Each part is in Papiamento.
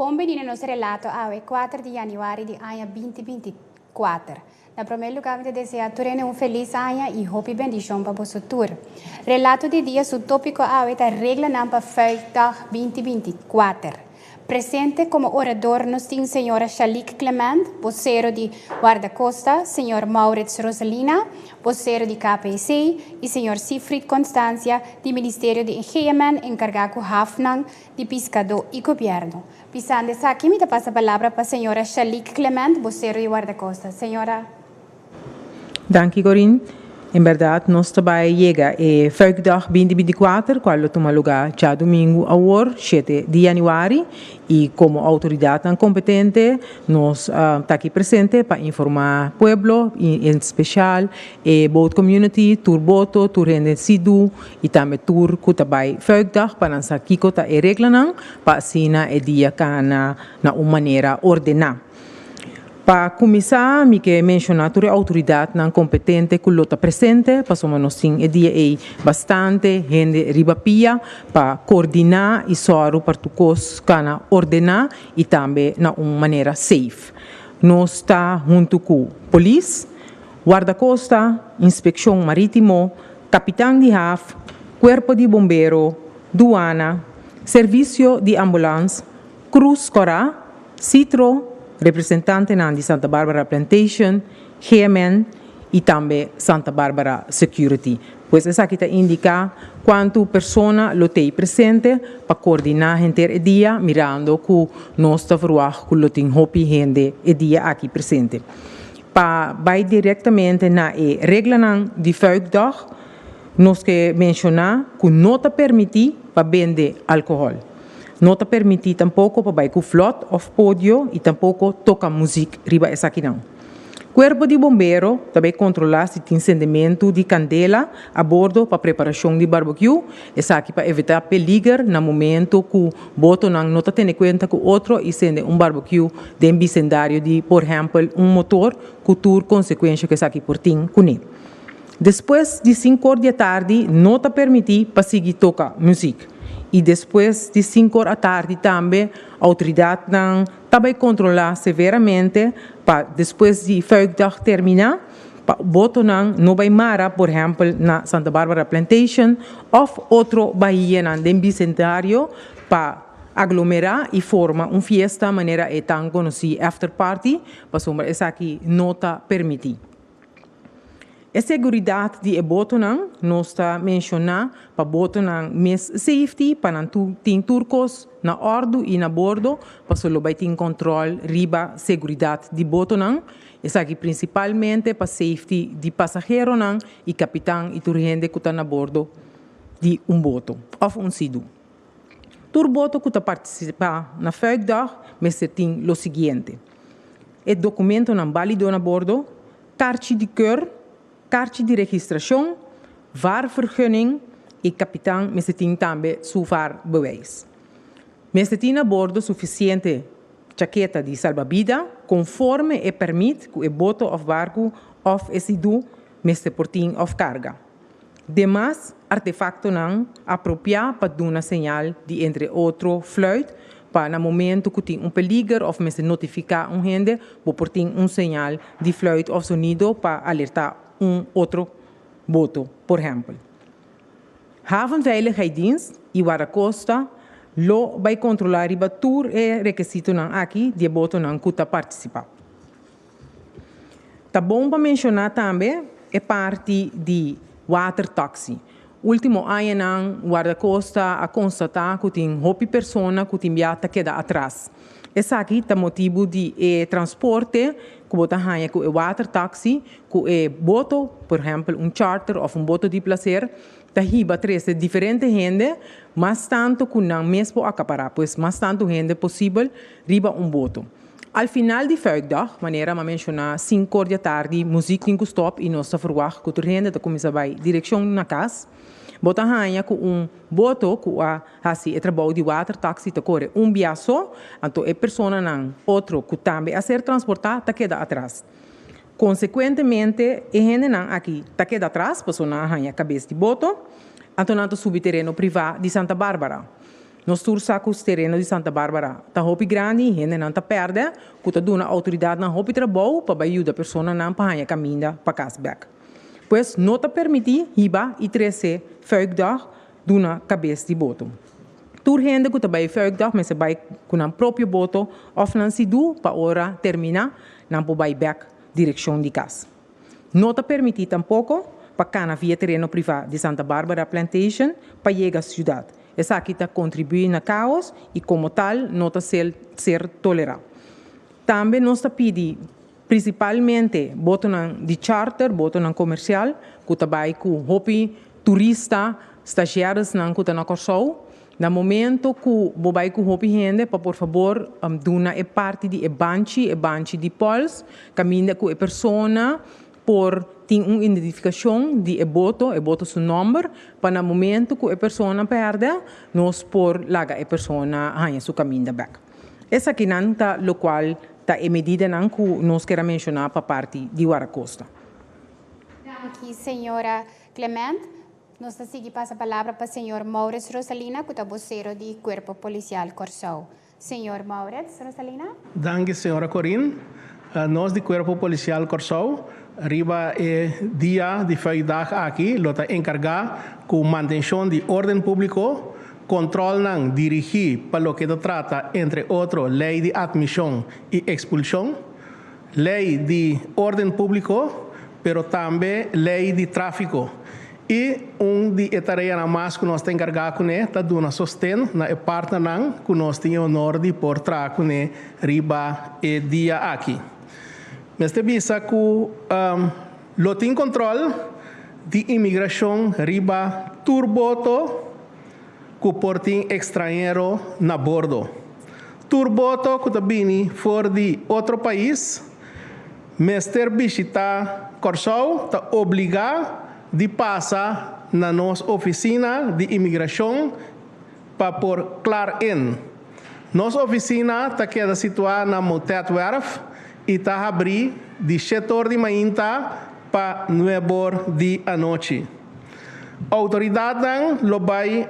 Bon bini na nos relato awe kuater di Januari di aña binti binti i kuater. Na promé lugá mi ta deseá tur hende un felis aña i hopi bendishon pa boso tur. Relato di dia su tópiko awe ta Reglanan pa Feestdag binti binti i kuater. Presente komo orador nos tin señora Shalique Clement, bosero di Guardacosta, señor Maurits Roselina, bosero di KPC, i señor Siegfried Constantia, di Ministerio di Engeamen enkargá ku hafnan di piskadó i gobièrnu. Pisando esaki mi ta pasa palabra pa señora Shalique Clement, bosero di Wardacosta. Señora. Danki Corin. En berdad nos ta bai yega e Vuikdag binti binti kuater kual lo tuma lugá djadumingu awor shete di yanüari i komo outoridatnan kompetente nos ta aki presente pa informá pueblo i en spesial e boat komuniti tur boto tur hende sidú y tambe tur cu ta bay vuigdag pa nan sa kico ta e reglanan pa asina e dia cana na un manera ordena. Pa cuminsa mi ke menciona tur e autoridadnan competente cu lo ta presente pasobra nos tin e dia ey bastante hende riba pia pa coordina y zorgo pa tur cos cana ordena y tambe na un manera safe. Nos ta hunto cu Polis. Wardakosta, Inspekshon Marítimo, Kapitan di Haf, Kuerpo di Bombero, Duana, Servisio di Ambulans, Krus Kòrá, Sitro, representantenan di Santa Barbara Plantation, GMN, i tambe Santa Barbara Security. Pues esaki ta indiká kuantu persona lo t'ei presente pa koordiná henter e dia mirando ku nos ta verwagt ku lo tin hopi hende e dia aki presente. Pa bai directamente na e reglanan di vuikdag, nos ke menciona cu no ta permiti pa bende alcohol. No ta permiti tampoco pa bai cu vlot of podio y tampoco toca muziek riba esakinan. Cuerpo di Bombero ta bay controla si tin sendementu di candela a bordo pa preparacion di barbecue, Esaki pa evitá peliger na momento ku botonan no ta tene kuenta ku otro i sende un barbecue den bisendario di por ehèmpel un motor ku tur konsekuensha ku esaki por tin kuné. Despues di sinkor di atardi no ta permití pa sigui toka muzik i despues di sinkor atardi tambe outoridatnan ta bai kontrolá severamente pa despues di vuigdag terminá, Pa botonan no bai mara, por ehempel, na Santa Barbara Plantation òf otro bahianan den Bicentenario pa aglomerá i forma un fiesta manera e tan konosí after party, pasobra esaki no ta permití. E seguridat di e botonan nos ta menshoná pa botonan mes safety pa nan tin tur kos na òrdu i na bordo paso lo bai tin kòntròl riba seguridat di botonan, Esaki principalmente pa safety di pasaheronan y capitan y tur hende cu ta na bordo di un boto of un sidu. Tur boto cu ta participa na vuikdag mester tin lo siguiente, e documentonan balido na bordo, karchi di keur, karchi di registracion, vaarvergunning y capitan mester tin tambe su vaarbewijs. Mester tin na bordo sufisiente chaketa di salbabida konforme e pèrmit ku e boto òf barku òf e sidu mester por tin òf karga demas artefaktonan apropiá pa duna señal di entre otro fluit pa na momentu ku tin un peliger òf mester notifiká un hende bo por tin un señal di fluit òf sonido pa alertá un otro boto por ehèmpel. Havenveiligheidsdienst y Waracosta lo bay controla riba tur e rekesitonan aki di e botonan cu ta participa. Ta bon pa menciona tambe e parti di watertaxi. Ultimo añanan Waracosta a constata cu tin hopi persona cu tin bia ta keda atras. Esaki ta motibu di e transporte ku bo ta haña ku e watertaxi ku e boto, por ehèmpel un charter òf un boto di plaser, ta hiba trese diferente hende mas tantu ku nan mes por akapará pues mas tantu hende posibel riba un boto. Al final di Fuikdag, manera m'a menshoná, sinkor di atardi muzik tin ku stòp i nos ta ferwagt ku tur hende ta kuminsá bai direkshon na kas. Bo ta haña ku un boto ku a. Hasi e trabou di watertaxi ta kore un bia so, anto e personanan otro ku tambe a ser transportá ta keda atras. Konsekuentemente e hendenan aki ta keda atras paso nan a haña kabes di boto, anto nan ta subi tereno privá di Santa Bárbara. Nos tur sa ku tereno di Santa Bárbara ta hopi grandi i hendenan ta pèrdè, ku ta duna outoridatnan hopi trabou pa bai yuda personanan pa haña kaminda pa kas bèk. Pues no ta permití hiba i trese vuigdag duna cabes di boto. Tur hende cu ta bay vuikdag mester bay cu nan propio boto of nan si du pa ora termina nan por bay bek direccion di cas. No ta permiti tampoco pa cana via tereno priva di Santa Barbara Plantation pa yega ciudad. Esaki ta contribui na caos y como tal no ta ser tolera. Tambe nos ta pidi. Principalmente botonan di charter, botonan comercial cu ta bay cu hopi turista, stagiaresnan cu ta na Corsou. Na momento cu bo bay cu hopi hende pa por favor duna e parti di e banchi, e banchi di pols, caminda cu e persona por tin un identificacion di e boto, e boto su nomber, pa na momento cu e persona perde nos por laga e persona haya su caminda bek. Esakinan ta lokual ta e medidanan ku nos keda menshoná pa parti di Warakosta. Danki señora Clement. Nos ta sigui pasa palabra pa señor Maurits Rosalina ku ta bosero di Kuerpo Polisial Kòrsou. Señor Maurits Rosalina. Danki señora Corin. Nos di Kuerpo Polisial Kòrsou riba e dia di vrijdag aki lo ta enkargá ku mantenshon di órden públiko Controlnan dirigi pa loke ta trata entre otro ley di admision y expulsion, ley di orden publico pero tambe ley di trafico y un di e tareanan mas cu nos ta encarga cune ta duna sosten na e partnernan cu nos tin e honor di por traha cune riba e dia aki. Mester bisa cu. Lo tin control di inmigracion riba tur boto cu por tin extranhero na bordo. Tur boto cu ta bini for di otro pais mester bishita Corsou ta obliga di pasa na nos oficina di inmigracion pa por klaar in. Nos oficina ta keda situa na Moutetwerf i ta habrí di shet or di mainta pa nueb or di anochi. Outoridatnan lo bai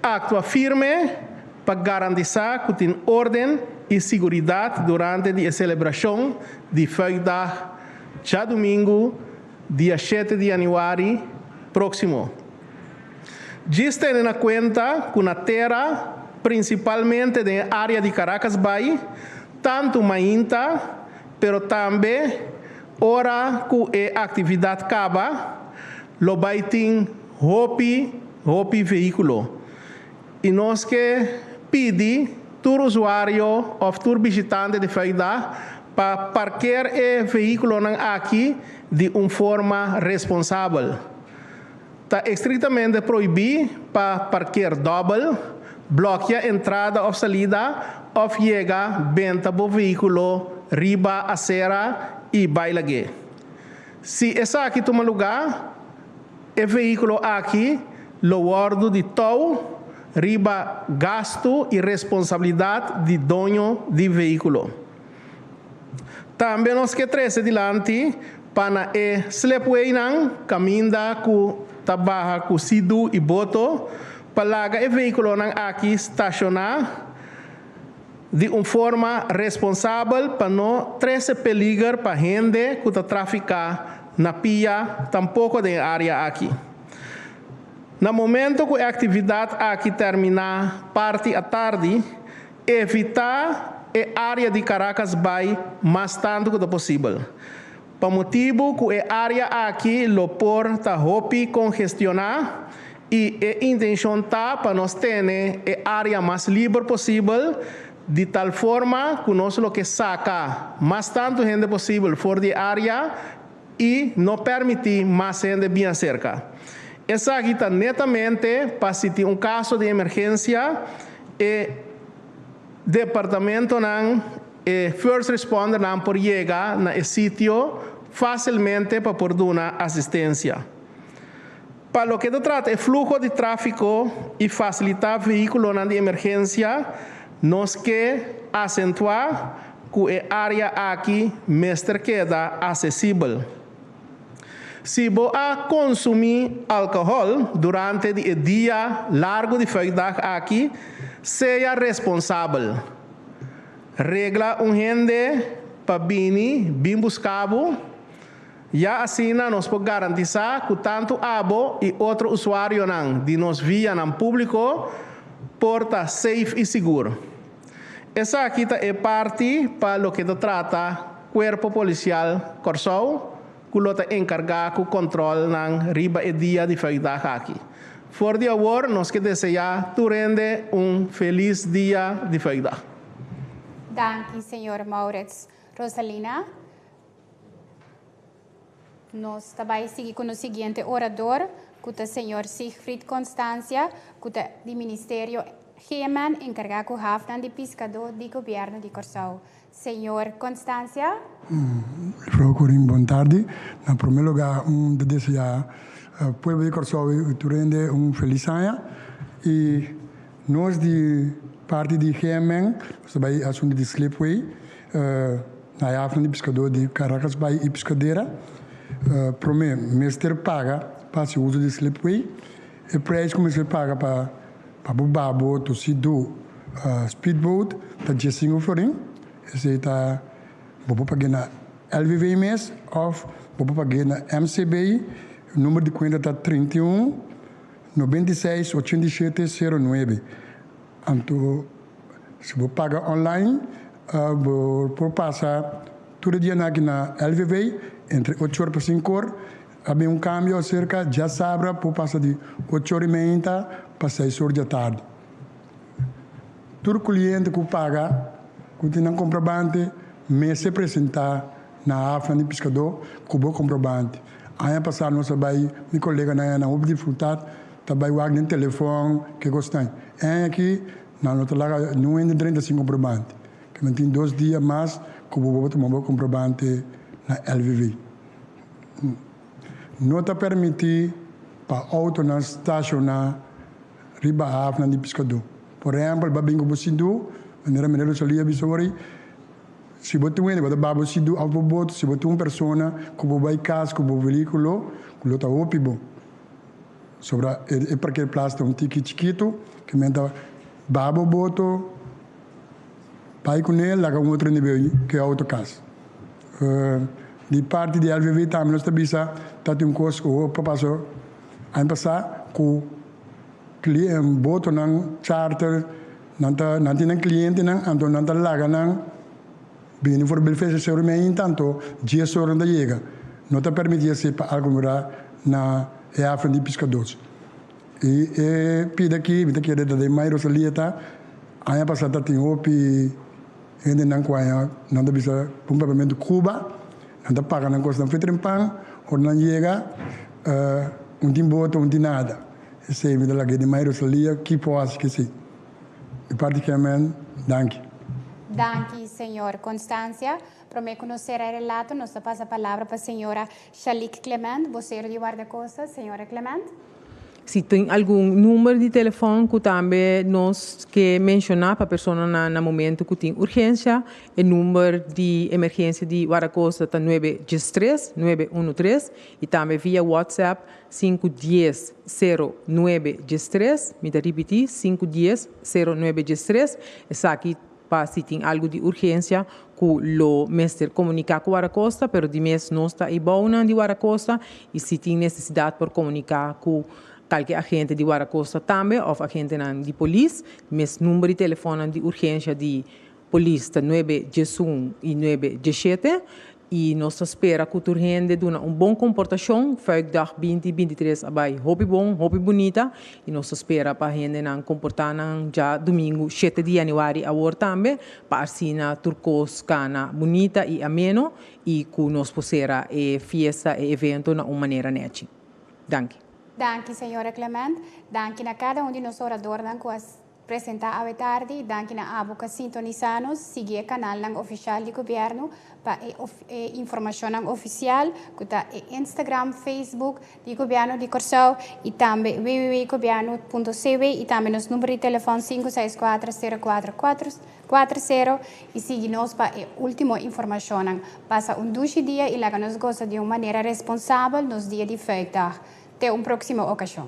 aktua firme pa garantisá ku tin órden i siguridat durante di e selebrashon di Vuikdag djadumingu, Dia shete di yanüari próksimo. Djis tene na kuenta ku na tera, prinsipalmente den e área di Caracas bai, tantu mainta, pero tambe ora ku e aktividat kaba, lo bai tin hopi, hopi vehíkulo. I nos ke pidi tur usuario of tur bishitante di Florida pa parker e vehikulonan aki di un forma responsabel. Ta estriktamente proibi pa parker dobel, blokia entrada of salida of yega benta bo vehikulo riba asera i bai lag'é. Si esaki tuma lugá, e vehíkulo aki lo wòrdu di tou riba gastu i responsabilidat di doño di vehíkulo. Tambe nos ke trese dilanti pa na e slepweinan kaminda ku ta baha ku sidu i boto pa laga e vehíkulonan aki stashoná, di un forma responsabel pa no trese peliger pa hende ku ta trafiká na pia tampoko den área aki. Na momento ku e aktividat aki terminá parti atardi, evitá e área di Caracas Bay mas tantu ku ta posibel. Pa motibu ku e área aki lo por ta hopi kongestioná i e intenshon ta pa nos tene e área mas liber posibel di tal forma ku nos lo ke saka mas tantu hende posibel for di e área i no pèrmití mas hende bia serka. Esaki ta netamente pa si tin un kaso di emergensia e. Departamentonan, e First Respondernan por yega na e sitio fácilmente pa por duna asistencia. Pa loke ta trata e fluho di tráfico i facilitá vehículonan di emergencia, nos ke acentuá cu e área aki mester keda accesibel. Si bo a konsumí alkohòl durante di e dia largu di vùikdag aki, sea responsabel. Regla un hende pa bini bin buska bo, ya asina nos por garantisá ku tantu abo i otro usuarionan di nos vianan públiko por ta seif i sigur. Esaki ta e parti pa loke ta trata Cuerpo Policial Kòrsou ku lo ta enkargá ku kòntròlnan riba e dia di feoidag aki. For di awor nos ke deseá tur hende un felis dia di feoidag. Danki, señor Maurits. Rosalina. Nos ta bai sigui cu nos siguiente orador, cu ta Señor Siegfried Constancia, cu ta di Ministerio Heman encarga cu hafnan di piscado di Gobierno di Corsou. Señor Constancia. Procurring bon tardi. Na prome luga un ta desea pueblo di Corsou y tur hende un feliz aña y nos di parti di Heman nos ta bai asunto di Slipway. Na Yafna di Piskadó di Caracas Bay y Piscadera, promé, mester paga pa hasi uso di slipway. E prijs cu mester paga pa bo babot o si do speedboat ta diessingo florin. Esey ta bo por pag'e na LVV mes of bo por pag'e na MCB. Number di cuenta ta trinta i un, noventa i seis, ochenta i shete, sero nuebe. Anto si bo paga online bo por pasa tur e dianan aki na LVV entre ocho or pa sinku or. A bin un kambio aserka djasabra por pasa di ocho or y meinta pa seis or di atardi. Tur kuliente ku paga ku tin nan komprobante mester presentá na hafnan di piskadó ku bo komprobante. Aña pasá nos a bai mi koleganan nan hopi di frutat. Ta bai wak den telefòn, ke kos nan? Èn aki nan lo ta laga nuhende en treinta sin komprobante, ke nan tin dos dia mas ku bo por tuma bo komprobante na lvv. No ta permití pa outonan stashoná riba hafnan di piskadó. Por ehèmpel, bo a bin ku bo sidú, manera Mirel lo salí a bisa awor ei, si bo tin un hende ku a ta baha bo sidú, aut bo bota, si bo tin un persona ku bo bai kas ku bo velíkulo, lo ta hopi bo. Sobra e parker plas ta un tiki chikitu ke men ta baba boto, bai ku ne laga un otro nivel ke outo kas. Di parti di LVV tambe nos ta bisa ta tin un kos ku hopi ta pasa aña pasa ku botonan charter nan tin nan klientenan anto nan ta laga nan. Bini for belfeshi seu rimi ainta anto dje soran ta yega, no ta permiti esei pa algun ora na e hafren di piskadors. I e pida aki mi ta kere ta den mai Rosalia ta aña pasa ta tin hopi hendenan ku aña nan ta bisa un kapamentu Cuba, nan ta paga nan kosnan fue trempan, ora nan yega un tin bota un tin nada, esei mi ta laga e den mai Rosalia kiko hasi ki esei. E parti ken men danki. Danki Señor Constancia. Prome cu nos cera e relato nos ta pasa palabra pa Señora Shalique Clement, vocero di Guardacosta. Señora Clement. Si tin algun number di telefon cu tambe nos ke menciona pa personanan na momento cu tin urgencia, e number di emergencia di Guardacosta ta nuebe djestres, nuebe uno tres, y tambe via WhatsApp Sinku dies sero nuebe diestres, mi ta ripití, sinku dies sero nuebe diestres, esaki pa si tin algu di urgensia ku lo mester komuniká ku Warakosta, pero di mes nos ta eibounan di Warakosta i si tin nesesidat por komuniká ku kalke agente di Warakosta tambe òf agentenan di polis, mes number di telefòn di urgensia di. Polis ta nuebe djesun i nuebe djeshete i nos ta spera ku tur hende duna un bon komportashon. Vuikdag binti binti tres a bai hopi bon, hopi bunita i nos ta spera pa hendenan komportá nan dja dumingu shete di yanüari awor tambe pa asina tur kos kana bunita i ameno i ku nos por sera e fiesta, e evento na un manera nechi. Danki. Danki, Señora Clement. Danki na kada un di nos oradornan ku a. Presenta awe tardi. Danki na abo ca sintonisa nos. Sigui e canalnan oficial di Gobierno pa e e informacionnan oficial cu ta e Instagram, Facebook di Gobierno di Corsou y tambe www.gobierno.cw y tambe nos numero di telefon sinku seis kuater sero kuater kuater kuater sero y sigui nos pa e ultimo informacionnan. Pasa un dushi dia y laga nos gosa di un manera responsabel nos dia di vrijdag. Te un proximo ocasion.